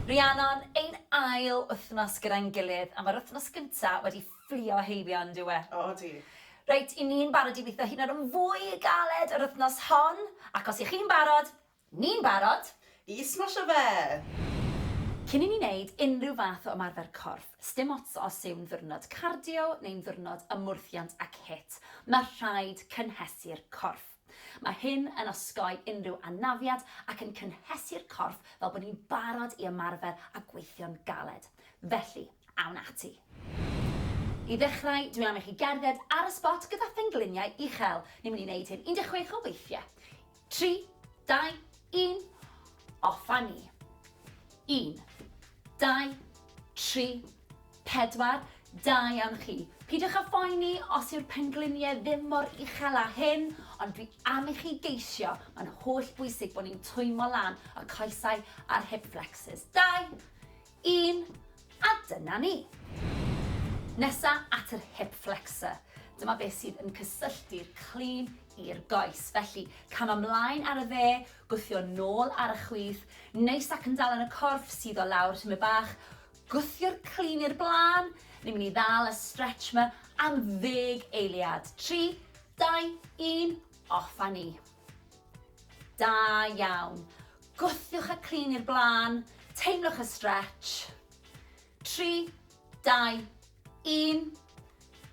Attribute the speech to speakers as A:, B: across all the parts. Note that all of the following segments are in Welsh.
A: Rhiannon, ein ail wythnos gyda'n gilydd, a mae'r wythnos gynta' wedi fflio heibio yn dyw e? O ydi.
B: Reit, 'yn ni'n
A: barod i witho hyd yn oed yn fwy galed yr wythnos hon, ac os 'ych chi'n barod, ni'n barod! I smasho
B: fe!
A: Cyn i ni wneud unrhyw fath o ymarfer corff, sdim ots os yw'n ddiwrnod cardio neu'n ddiwrnod ymwrthiant ac hit, mae rhaid cynhesu'r corff. Mae hyn yn osgoi unrhyw anafiad ac yn cynhesu'r corff fel bod ni'n barod i ymarfer a gweithio'n galed. Felly, awn ati! I ddechrau, dwi am i chi gerdded ar y sbot gyda phengliniau uchel. Ni'n mynd i wneud hyn 16 o weithiau. Tri, dau, un, off a ni! Un, dau, tri, Pedwar, Da iawn chi. Peidiwch â phoeni os yw'r pengliniau ddim mor uchel â hyn, ond dwi am i chi geisio, mae'n holl bwysig bod ni'n twymo lan y coesau a'r hip flexors. Dau, un, a dyna ni. Nesa at yr hip flexor. Dyma beth sydd yn cysylltu'r clean i'r goes. Felly, cam ymlaen ar y dde, gwthio nôl ar y chwith, neis ac yn dal yn y corff, suddo lawr tymed bach, Gwthio'r clun i'r blaen, ni'n mynd i ddal y stretch ma am ddeg eiliad. Tri, dau, un, off a ni. Da iawn. Gwthiwch y clun i'r blaen, teimlwch y stretch. Tri, dau, un.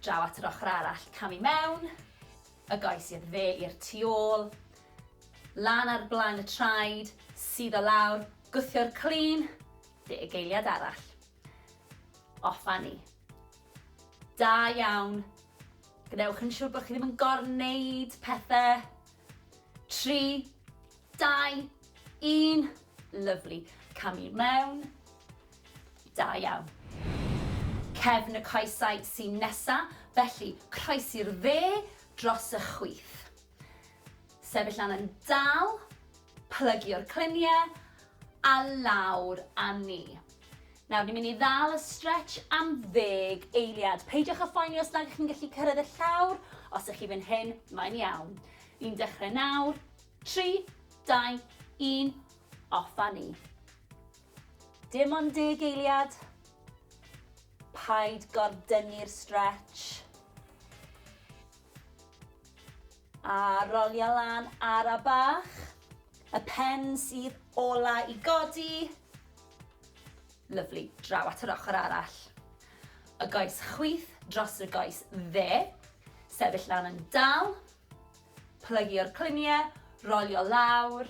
A: Draw at yr ochr arall, cam i mewn, y goes i'r dde i'r tu ôl, lan ar blaen y traed, sydd o lawr, gwthio'r clun, Lle y geiliad arall. Off fan ni. Da iawn. Gwnewch yn siŵr bod chi ddim yn gorneud pethau. Tri, dau, un. Lyflu. Cam i mewn. Da iawn. Cefn y coesau sy'n nesa, felly croesi'r dde dros y chwith. Sefyll lan yn dal, plygio'r cluniau a lawr â ni. Nawr, ni'n mynd i ddal y stretch am ddeg eiliad. Peidiwch â phoeni os nad ydych chi'n gallu cyrraedd y llawr, os ydych chi fan hyn, mae'n iawn. Ni'n dechrau nawr, 3, 2, 1, off â ni. Dim ond deg eiliad. Paid gordynnu'r stretch. A rolia lan ara bach. Y pen sydd ola i godi. Lyfli, draw at yr ochr arall. Y goes chwith dros y goes dde. Sefyll lan yn dal. Plygio'r cluniau, rolio lawr.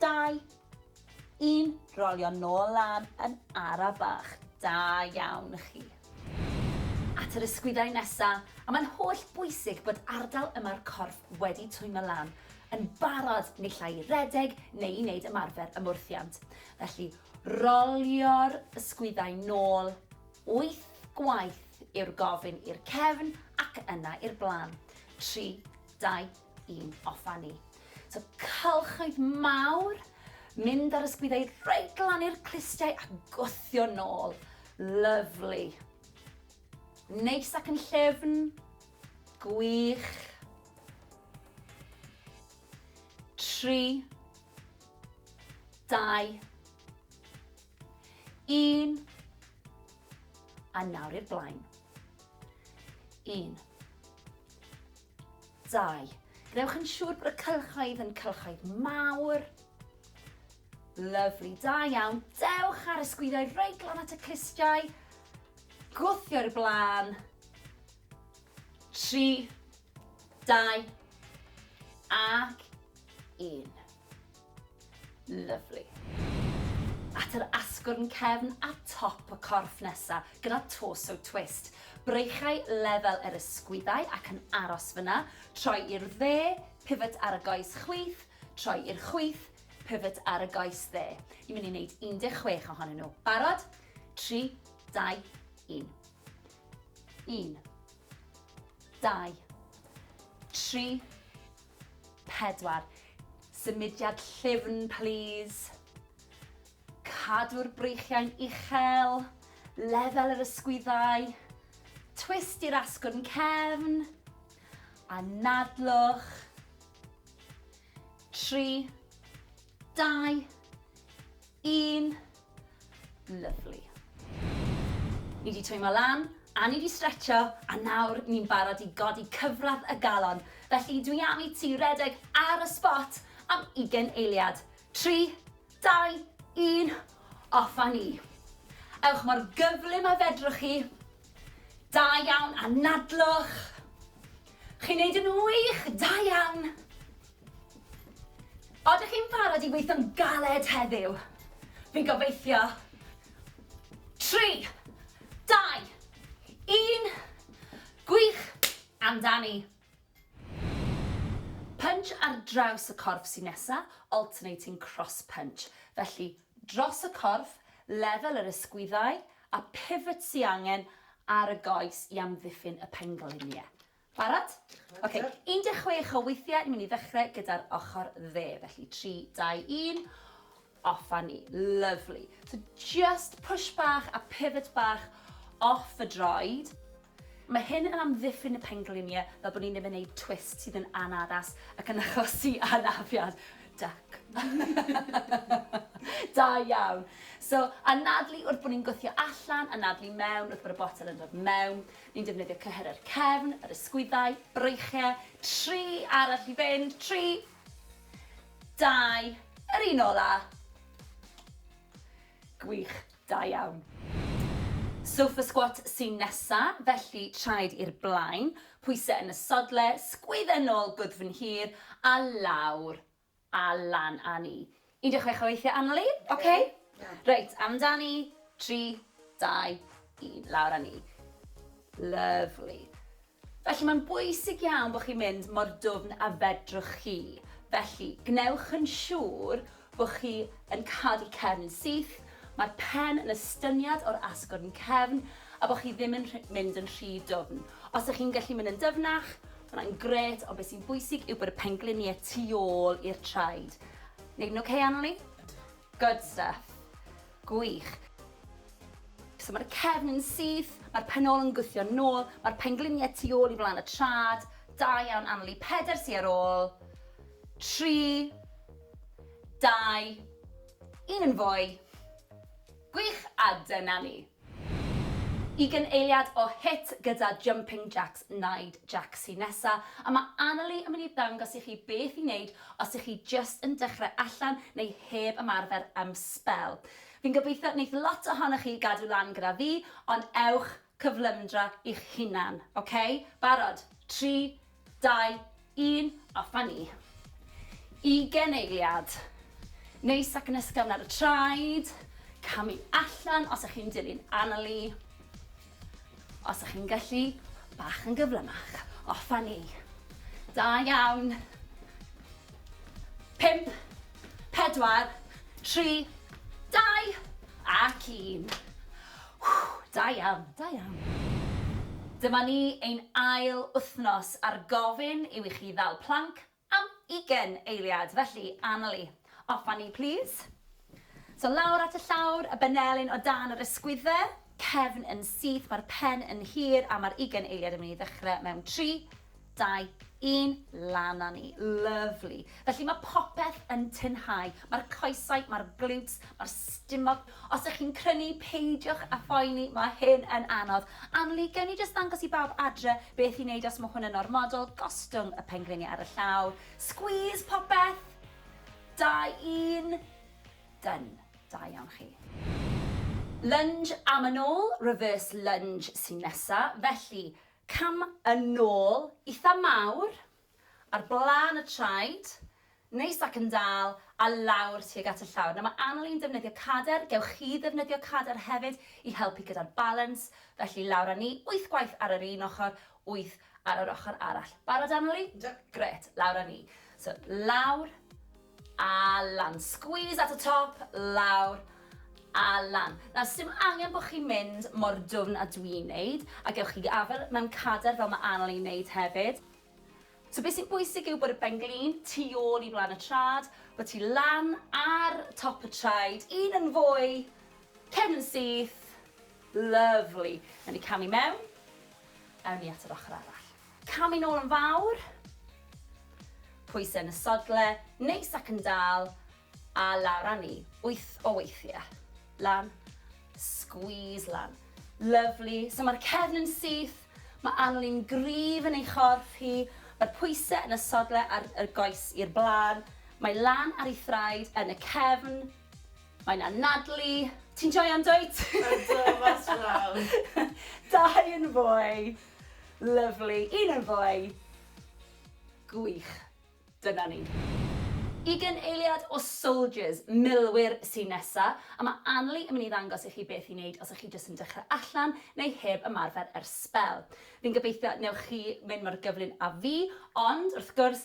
A: Dau. Un. Rolio nôl lan yn ara bach. Da iawn chi. At yr ysgwyddau nesa, a mae'n holl bwysig bod ardal yma'r corff wedi twymo lan, yn barod naill ai i redeg neu i wneud ymarfer ymwrthiant. Felly, rolio'r ysgwyddau nôl, wyth gwaith yw'r gofyn i'r cefn ac yna i'r blaen. Tri, dau, i'n offa ni. So cylchoedd mawr, mynd ar ysgwyddau reit glan i'r clustiau a gwthio nôl. Lyflu. Neis ac yn llefn. Gwych. Tri. Dau. Un. A nawr i'r blaen. Un. 2. Gwnewch yn siŵr bod y cylchoedd yn cylchoedd mawr. Lyfli, da iawn. Dewch ar y sgwyddoedd reit glan at y clustiau. Gwthio i'r blaen. 3, 2, ac 1. Lyfli. At yr asgwrn cefn a top y corff nesa, gyda torso twist. Breichau lefel yr ysgwyddau ac yn aros fyna, troi i'r dde, pivot ar y goes chwith, troi i'r chwith, pivot ar y goes dde. Ni'n mynd i wneud 16 ohonyn nhw. Barod? 3, 2, 1. 1, 2, 3, 4. Symudiad llyfn plîs. Cadw'r breichiau'n uchel, lefel yr ysgwyddau, twist i'r asgwrn cefn, anadlwch. 3. Dau. Un. Lovely. Ni wedi twymo lan, a ni wedi stretcho, a nawr ni'n barod i godi cyfradd y galon. Felly dwi am i ti redeg ar y spot am ugen eiliad. Tri, dau, un, off a ni. Ewch mor gyflym a fedrwch chi. Da iawn, anadlwch. Chi'n neud yn wych, da iawn. Oeddech chi'n barod i weithio'n galed heddiw? Fi'n gobeithio. Tri, dau, un, gwych, amdani. Punch ar draws y corff sy'n nesa, alternating cross punch. Felly, dros y corff, lefel yr ysgwyddau, a pivot sy angen ar y goes i amddiffyn y pengliniau. Barod? Ok, 16 o weithiau, ni'n mynd i ddechrau gyda'r ochr dde. Felly 3, 2, 1, off a ni. Lovely. So just push bach a pivot bach off y droed. Mae hyn yn amddiffyn y pengliniau fel bod ni'n ddim yn gwneud twist sydd yn anaddas ac yn achosi anafiad. Duck. da iawn. So, anadlu wrth bod ni'n gwthio allan, anadlu mewn wrth bod y botel yn dod mewn. Ni'n defnyddio cyhyr yr cefn, yr ysgwyddau, breichiau, tri arall i fynd, tri, dau, yr un ola. Gwych, da iawn. Sofa squat sy'n nesa, felly traed i'r blaen, pwysau yn y sodle, sgwydda nôl gwddf yn hir a lawr, A lan a ni. 16 o weithiau aml i. Ok? Reit, amdani. 3, 2, 1. Lawr a ni. Lyfli. Felly, mae'n bwysig iawn bod chi'n mynd mor dwfn a fedrwch chi. Felly, gwnewch yn siŵr bod chi yn cadw'r cefn yn syth, mae'r pen yn estyniad o'r asgwrn cefn, a bod chi ddim yn mynd yn rhy dwfn. Os ydych chi'n gallu mynd yn dyfnach, Ma' hwnna'n grêt, ond be' sy'n bwysig yw bod y penglinie tu ôl i'r traed. Neud yn ocê Annalee? Ydw. Good stuff. Gwych. So ma'r cefn yn syth, ma'r pen ôl yn gwthio nôl, ma'r penglinie tu ôl i flan y trad. Da iawn Annalee. Peder sy ar ôl. Tri. Dau. Un yn fwy. Gwych, a dyna ni. Ugain eiliad o hit gyda Jumping Jacks Naid Jac sy nesa, a mae Annalee yn mynd i ddangos i chi beth i neud os ych chi jyst yn dechrau allan neu heb ymarfer am sbel. Fi'n gobeithio neith lot ohonoch chi gadw lan gyda fi, ond ewch cyflymdra i'ch hunan, ok? Barod? Tri, Dau, un, a ffynnu. Ugen eiliad. Neis ac yn ysgafn ar y traed. Camu allan os ych chi'n dilyn Annalee. Os ych chi'n gallu, bach yn gyflymach. O, ffynnu. Da iawn. Pump, pedwar, tri, dau, ac un. Da iawn, da iawn. Dyma ni, ein ail wythnos a'r gofyn yw i chi ddal planc am ugain eiliad, felly, Annalee, off â ni plîs. So lawr at y llawr, y benelin o dan yr ysgwydde, cefn yn syth, mae'r pen yn hir a mae'r ugain eiliad yn mynd i ddechrau mewn tri, dau, un, lan a ni. Lyfli. Felly mae popeth yn tinhau, mae'r coesau, mae'r glutes, mae'r stumog. Os ych chi'n crynu, peidiwch a phoeni, mae hyn yn anodd. Anli, gewn ni jyst ddangos i bawb adre beth i wneud os mae hwn yn ormodol, gostwng y pengliniau ar y llaw, squeeze popeth, Da un! Done. Da iawn chi. Lunge am yn ôl, reverse lunge sy'n nesa, felly cam yn ôl itha mawr, ar blaen y traed, neis ac yn dal, a lawr tuag at y llawr. Nawr mae Annalee yn defnyddio cader, gewch chi ddefnyddio cader hefyd i helpu gyda'r balans, felly lawr â ni, wyth gwaith ar yr un ochr, wyth Ar yr ochr arall. Barod Aneli? Yndw. Grêt, lawr â ni. So, lawr a lan. Squeeze at y top, lawr a lan. Nawr, sdim angen bod chi'n mynd mor dwfn a dwi'n neud, a gewch chi afael mewn cader fel mae Aneli'n neud hefyd. So beth sy'n bwysig yw bod y benglin tu ôl i flaen y trad, bod ti lan ar top y traed, un yn fwy, cefn yn syth, lyfli. Nawr ni camu mewn, Awn ni at yr ochr arall. Cam i nôl yn fawr. Pwysau yn y sodle, neis ac yn dal, a lawr â ni, wyth o weithiau. Lan, squeeze lan. Lyfli, so mae'r cefn yn syth, mae Anneli'n gryf yn ei chorff hi, mae'r pwysau yn y sodle a'r goes i'r blaen, mae lan ar ei thraed yn y cefn, Mae'n anadlu. Ti'n joio yn dwyt? Ydw, mas
B: draw. Dau
A: yn fwy. Lyfli. Un yn fwy. Gwych. Dyna ni. Ugen eiliad o soldiers, milwyr, sy'n nesa, a mae Anli yn mynd i ddangos i chi beth i wneud os ych chi jyst yn dechrau allan neu heb ymarfer ers sbel. Fi'n gobeithio newch chi mynd mor gyflym â fi, ond, wrth gwrs,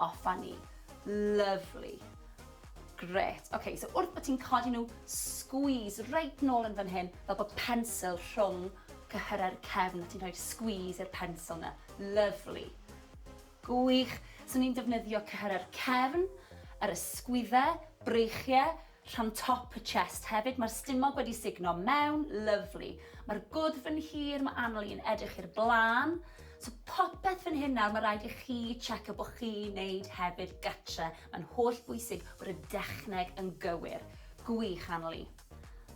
A: O funny. Lovely. Grêt. Ok, so wrth bod ti'n codi nhw, squeeze reit nôl yn fan hyn, fel bod pensil rhwng cyhyrau'r cefn a ti'n rhoi'r squeeze i'r pensil na. Lovely. Gwych. So ni'n defnyddio cyhyrau'r cefn, yr ysgwyddau, breichiau, Rhan top y chest hefyd mae'r stumog wedi sugno mewn, lyfli. Mae'r gwddf yn hir, mae anol i'n edrych i'r blaen. So popeth fan hyn nawr, mae rhaid i chi checio bod chi'n neud hefyd gatre. Mae'n holl bwysig bod y dechneg yn gywir. Gwych anol i.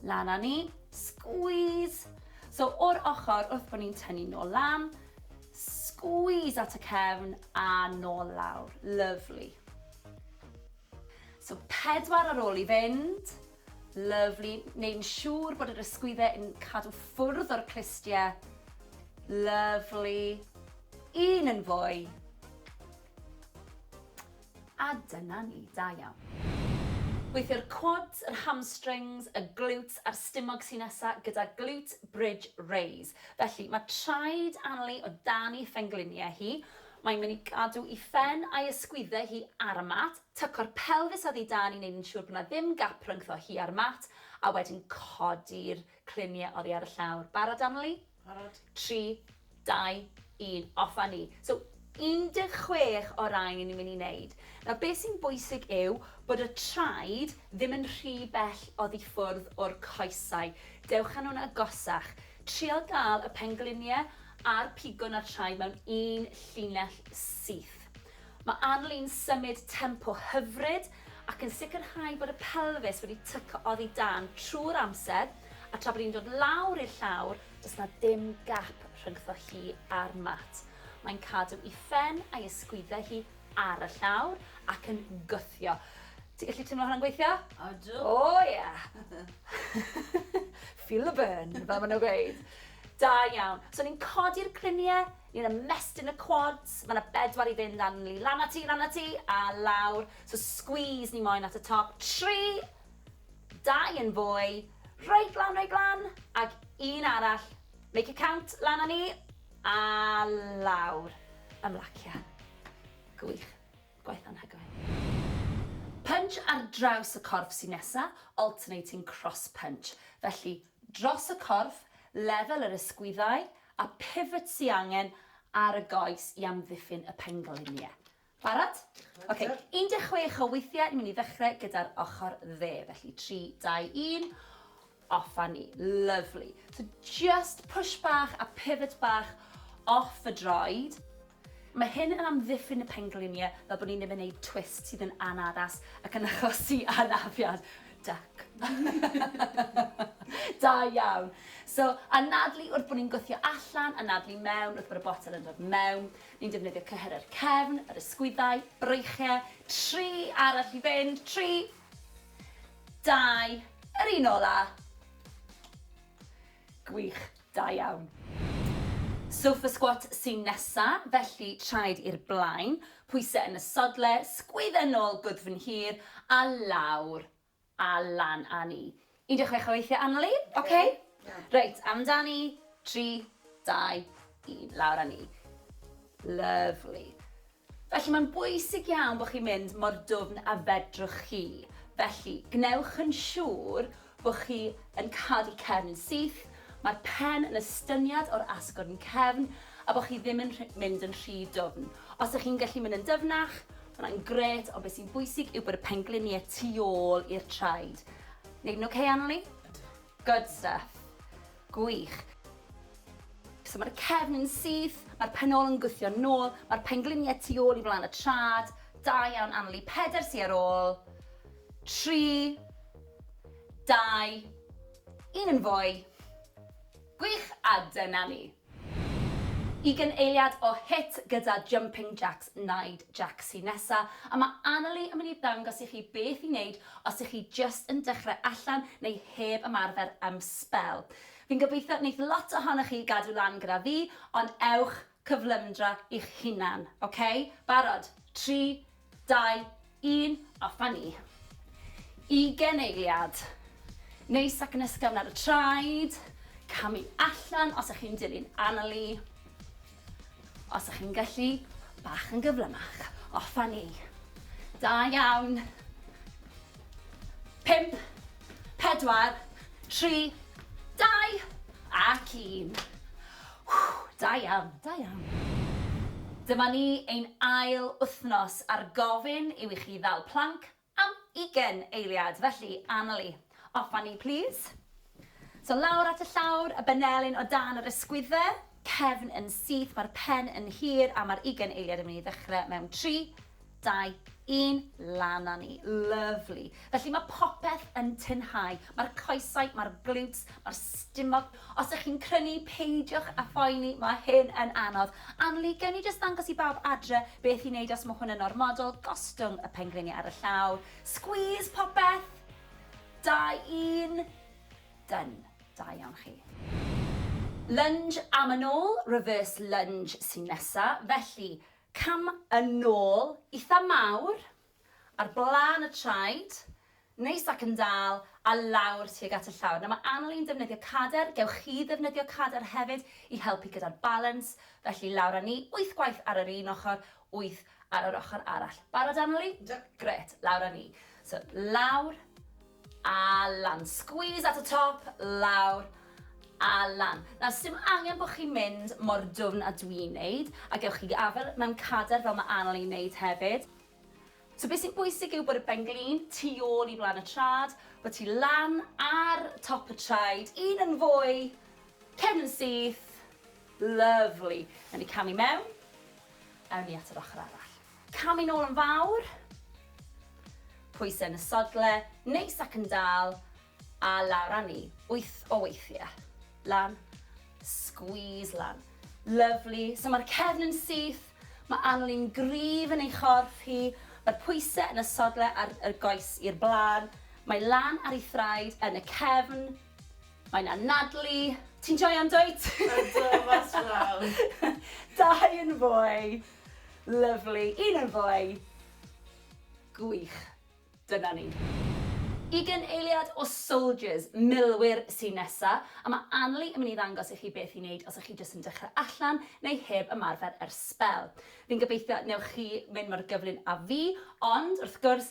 A: Lan â ni, squeeze! So o'r ochr wrth bod ni'n tynnu nôl lan, squeeze at y cefn a nôl lawr. Lyfli. So pedwar ar ôl i fynd. Lyfli. Neud yn siŵr bod yr ysgwyddau yn cadw ffwrdd o'r clustiau. Lyfli. Un yn fwy. A dyna ni, da iawn. Gweithio'r quads, yr hamstrings, y glutes a'r stumog sy'n nesa gyda glute bridge raise. Felly, mae traed Anli o dan ei phengliniau hi, Mae'n mynd i gadw i phen a'i ysgwydde hi ar y mat, tyco'r pelfis oddi dan i wneud yn siŵr bod 'na ddim gap rhyngtho hi a'r mat, a wedyn codi'r clunie oddi ar y llawr. Barod Annerley? Barod. Tri, dau, un, off a ni. So, 16 o rai ni'n mynd i wneud. Nawr, be sy'n bwysig yw bod y traed Ddim yn rhy bell oddi ffwrdd o'r coesau. Dewch â nhw'n agosach. Trio dal y penglinie a'r pigwn a'r traed mewn un llinell syth. Mae Arlene'n symud tempo hyfryd ac yn sicrhau bod y pelfis wedi tyco oddi dan trwy'r amser a tra bod hi'n dod lawr i'r llawr, does 'na ddim gap rhyngddo hi a'r mat. Mae'n cadw i phen a'i ysgwyddau hi ar y llawr ac yn gwthio. Ti'n gallu teimlo hwnna'n gweithio? Odw. O oh, ie.
B: Yeah.
A: Feel the burn, fel maen nhw'n gweud. Da iawn. So ni'n codi'r griniau, ni'n ymestyn y quads, mae yna bedwar i fynd lan ni, lan ati, lan ati, a lawr. So squeeze ni moyn at y top. Tri, dau yn fwy, reit lan, reit lan, ac un arall. Make it count, lan â ni. A lawr ymlacia. Gwych. Gwaith anhygoel. Punch ar draws y corff sy'n nesa, alternating cross punch. Felly, dros y corff, lefel yr ysgwyddau, a pivot sy angen ar y goes i amddiffyn y pengliniau. Barod? Ok, 16 o weithiau, ni'n mynd i ddechrau gyda'r ochr dde. Felly 3, 2, 1, off a ni. Lovely. So just push bach a pivot bach off y droed. Mae hyn yn amddiffyn y pengliniau fel bod ni'n ddim yn gwneud twist sydd yn anaddas ac yn achosi anafiad. Duck. da iawn. So, anadlu wrth bod ni'n gwthio allan, anadlu mewn wrth bod y botel yn dod mewn. Ni'n defnyddio cyhyr yr cefn, yr ysgwyddau, breichiau, tri arall i fynd, tri, dau, yr un ola. Gwych, da iawn. Sofa squat sy'n nesa, felly traed i'r blaen, pwysau yn y sodle, sgwydda nôl gwddf yn hir a lawr A lan a ni. Un deg chwech o weithiau Annalee. Ok. Reit, amdani. Tri, dau, un. Lawr a ni. Lyfli. Felly mae'n bwysig iawn bod chi'n mynd mor dwfn a fedrwch chi. Felly, gwnewch yn siŵr bod chi yn cadw cefn yn syth, mae'r pen yn estyniad o'r asgwrn cefn a bod chi ddim yn mynd yn rhy dwfn. Os ydych chi'n gallu mynd yn dyfnach, Mae hwnna'n gret, ond beth sy'n bwysig yw bod y pengliniau tu ôl i'r traed. Neud yn okay, Anneli? Good stuff. Gwych. So mae'r cefn yn syth, mae'r penol yn gwthio nôl, mae'r pengliniau tu ôl i flaen y trad. Da iawn, Anneli. Peder sy ar ôl. Tri. Dau. Un yn fwy. Gwych, a dyna ni. Ugain eiliad o hit gyda Jumping Jacks Naid Jac sy nesa, a mae Annalee yn mynd i ddangos i chi beth i wneud os ych chi jyst yn dechrau allan neu heb ymarfer am sbel. Fi'n gobeithio wneith lot ohonoch chi gadw lan gyda fi, ond ewch cyflymdra i'ch hunan, ok? Barod? Tri, Dau, un, a fynnu. Ugen eiliad. Neis ac yn ysgafn ar y traed. Camu allan os ych chi'n dilyn Annalee. Os ych chi'n gallu, bach yn gyflymach. O, fynnu. Da iawn. Pimp, pedwar, tri, dau, ac un. Whew! Da iawn, da iawn. Dyma ni, ein ail wythnos a'r gofyn yw i chi ddal planc am ugen eiliad, felly Annalee, off â ni plîs. So lawr at y llawr, y benelin o dan yr ysgwydde, cefn yn syth, mae'r pen yn hir a mae'r ugen eiliad yn mynd i ddechrau mewn tri, dau, un, lan a ni. Lyfli. Felly mae popeth yn tynhau. Mae'r coesau, mae'r glutes, mae'r stumog. Os ych chi'n crynu, peidiwch a phoeni, mae hyn yn anodd. Anli, gewn ni jyst ddangos i bawb adre beth i wneud os mae hwn yn ormodol, gostwng y pengliniau ar y llaw, squeeze popeth, dau, un, dyn, da iawn chi. Lunge am yn ôl, reverse lunge sy'n nesa, felly Cam yn ôl itha mawr, ar blaen y traed, neis ac yn dal, a lawr tuag at y llawr. Nawr mae anal i'n defnyddio cader, gewch chi ddefnyddio cader hefyd i helpu gyda'r balans, felly lawr â ni, wyth gwaith ar yr un ochr, wyth ar yr ochr arall. Barod anal i? Yndw. Grêt, lawr â ni. So lawr, A lan. Squeeze at y top, lawr, a lan. Nawr, sdim angen bod chi'n mynd mor dwfn a dwi'n wneud, a gewch chi afael mewn cadair fel mae Annalee yn wneud hefyd. So beth sy'n bwysig yw bod y ben-glin tu ôl i flaen y trad, bod ti lan ar top y traed, un yn fwy, cefn yn syth, lyfli. Awn ni camu mewn, awn ni at yr ochr arall. Cam yn ôl yn fawr. Pwysau yn y sodle, neis ac yn dal, a lawr â ni, wyth o weithiau. Lan. Squeeze lan. Lyfli. So mae'r cefn yn syth, mae Annalyn gryf yn ei chorff hi, mae'r pwysau yn y sodle a'r y goes i'r blaen, mae lan ar ei thraed yn y cefn, mae'n anadlu, ti'n joio yndwyt? Ydw, mas
B: draw. Dau
A: yn fwy. Lyfli! Un yn fwy! Gwych! Dyna ni. Y gyn-eiliad o Soldiers, Milwyr, sy'n nesa, a mae Anneli yn mynd i ddangos i chi beth i wneud os ych chi jyst yn dechrau allan neu heb ymarfer ers sbel. Fi'n gobeithio wnewch chi mynd mor gyflym â fi, ond, wrth gwrs,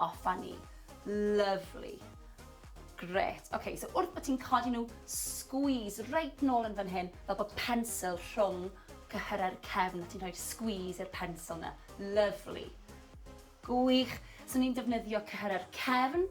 A: O funny. Lovely. Grêt. Ok, so wrth bod ti'n codi nhw, squeeze reit nôl yn fan hyn, fel bod pensil rhwng cyhyrau'r cefn a ti'n rhoi'r squeeze i'r pensil na. Lovely. Gwych. So ni'n defnyddio cyhyrau'r cefn,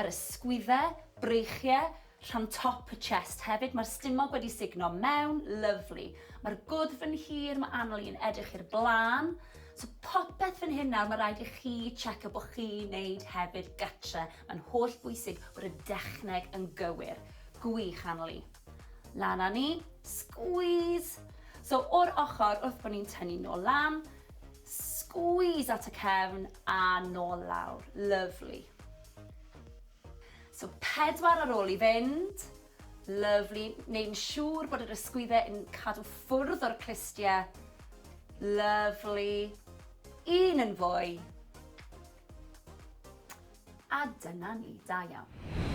A: yr ysgwyddau, breichiau, Rhan top y chest hefyd mae'r stumog wedi sugno mewn, lyfli. Mae'r gwddf yn hir, mae anol i'n edrych i'r blaen. So popeth fan hyn nawr, mae rhaid i chi checio bod chi'n neud hefyd gatre. Mae'n holl bwysig bod y dechneg yn gywir. Gwych anol i. Lan â ni, squeeze! So o'r ochr wrth bod ni'n tynnu nôl lan, squeeze at y cefn a nôl lawr. Lyfli. So pedwar ar ôl i fynd. Lyfli. Neud yn siŵr bod yr ysgwyddau yn cadw ffwrdd o'r clustiau. Lyfli. Un yn fwy. A dyna ni, da iawn.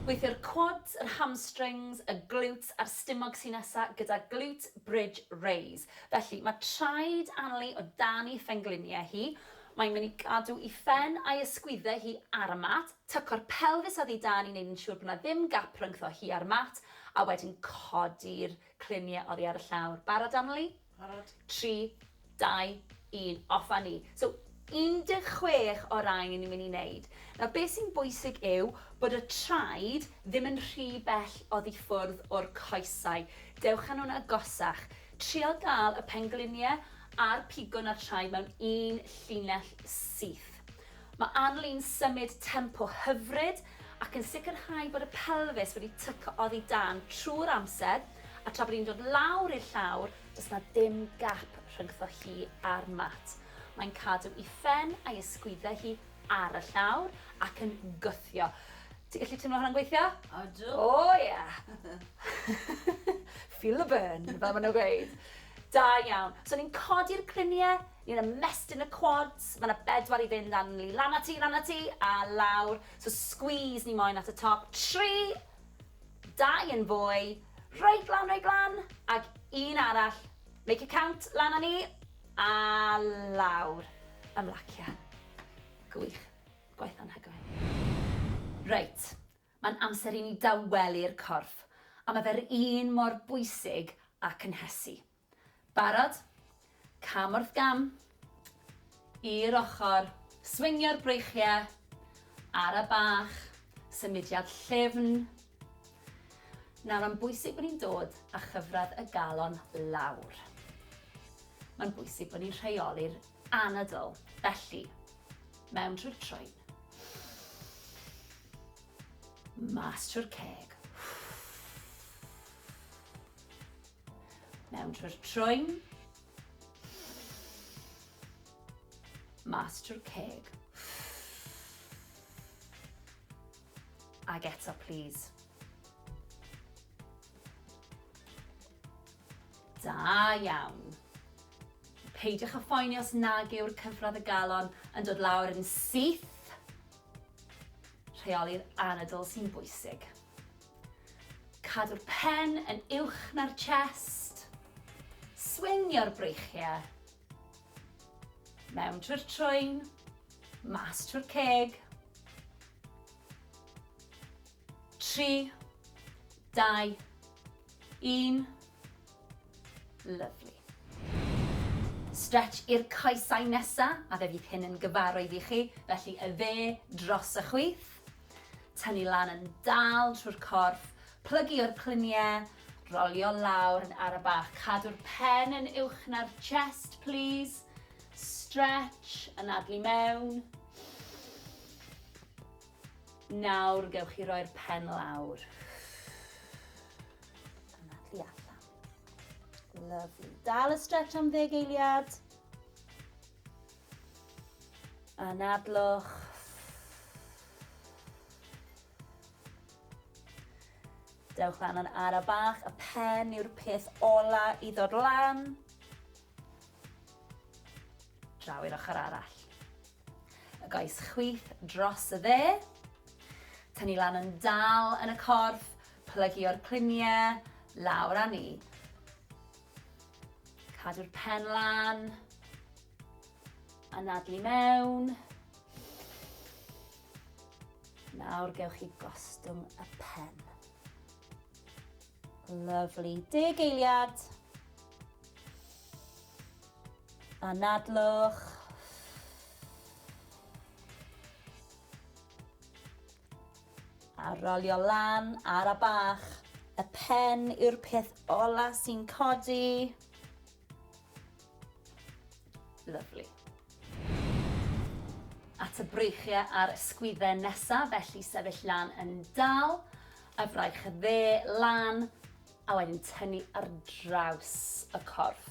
A: Gweithio'r quads, yr hamstrings, y glutes a'r stumog sy'n nesa gyda glute bridge raise. Felly, mae traed Anli o dan ei phengliniau hi, Mae'n mynd i gadw i phen a'i ysgwydde hi ar y mat, tyco'r pelfis oddi dan i wneud yn siŵr bod 'na ddim gap rhyngtho hi a'r mat, a wedyn codi'r clunie oddi ar y llawr. Barod Annerley? Barod. Tri, dau, un, off a ni. So, 16 o rai ni'n mynd i wneud. Nawr, be sy'n bwysig yw bod y traed Ddim yn rhy bell oddi ffwrdd o'r coesau. Dewch â nhw'n agosach. Trial gael y penglinie a'r pigwn a'r tsiai mewn un llinell syth. Mae Arlene'n symud tempo hyfryd ac yn sicrhau bod y pelfis wedi tyco oddi dan trwy'r amser a tra bod hi'n dod lawr i'r llawr does 'na ddim gap rhyngddo hi a'r mat. Mae'n cadw i phen a'i ysgwyddau hi ar y llawr ac yn gwthio. Ti'n gallu teimlo hwnna'n gweithio? Odw. O oh, ie.
B: Yeah.
A: Feel the burn, fel maen nhw'n gweud. Da iawn. So ni'n codi'r griniau, ni'n ymestyn y quads, mae yna bedwar i fynd am ni lan ati, lan ati, a lawr. So squeeze ni moyn at y top. Tri, dau yn fwy, reit lan, reit lan, ac un arall. Make it count, lan â ni. A lawr ymlacia. Gwych. Gwaith anhygoel. Reit, mae'n amser i ni dawelu'r corff, a mae fe'r un mor bwysig â cynhesu. Barod? Cam wrth gam. I'r ochr. Swingio'r breichiau. Ara bach. Symudiad llyfn. Nawr mae'n bwysig bod ni'n dod â chyfradd y galon lawr. Mae'n bwysig bod ni'n rheoli'r anadl, felly, mewn trwy'r troen. Mas trwy'r ceg. Mewn trwy'r troen. Mas trwy'r ceg. Ag eto plîs. Da iawn. Peidiwch â phoeni os nag yw'r cyfradd y galon yn dod lawr yn syth. Rheoli'r anadl sy'n bwysig. Cadw'r pen yn uwch na'r chest. Swingio'r breichiau. Mewn trwy'r trwyn, mas trwy'r ceg. 3, 2, 1. Lovely. Stretch i'r coesau nesa, a fe fydd hyn yn gyfarwydd i chi, felly y dde dros y chwith. Tynnu lan yn dal trwy'r corff, plygu o'r cluniau, Rolio lawr yn ara bach. Cadw'r pen yn uwch na'r chest, plîs. Stretch, anadlu mewn. Nawr gewch chi roi'r pen lawr. Anadlu allan. Lovely. Dal y stretch am ddeg eiliad. Anadlwch. Dewch lan yn ara bach, y pen yw'r peth ola i ddod lan. Draw i'r ochr arall. Y goes chwith dros y dde. Tynnu lan yn dal yn y corff, plygio'r cluniau, lawr â ni. Cadw'r pen lan. Anadlu mewn. Nawr gewch chi gostwng y pen. Lovely. Deg eiliad. Anadlwch. A rolio lan ar y bach. Y pen yw'r peth ola sy'n codi. Lovely. Lyfli. At y breichiau a'r ysgwyddau nesaf, felly sefyll lan yn dal, a fraich y dde lan, a wedyn tynnu ar draws y corff.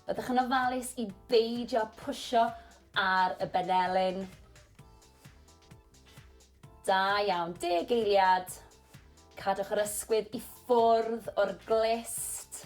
A: Byddwch yn ofalus i beidio pwysio ar y benelin. Da iawn, deg eiliad. Cadwch yr ysgwydd i ffwrdd o'r glist.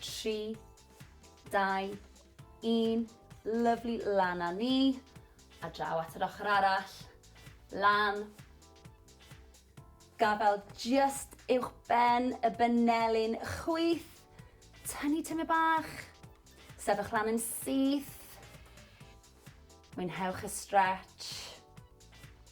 A: 3, 2, 1, lyfli, lan a ni, a draw at yr ochr arall, lan, gafel just uwch ben y benelin, chwyth, tynnu tyme bach, sefych lan yn syth, mwynhewch y stretch,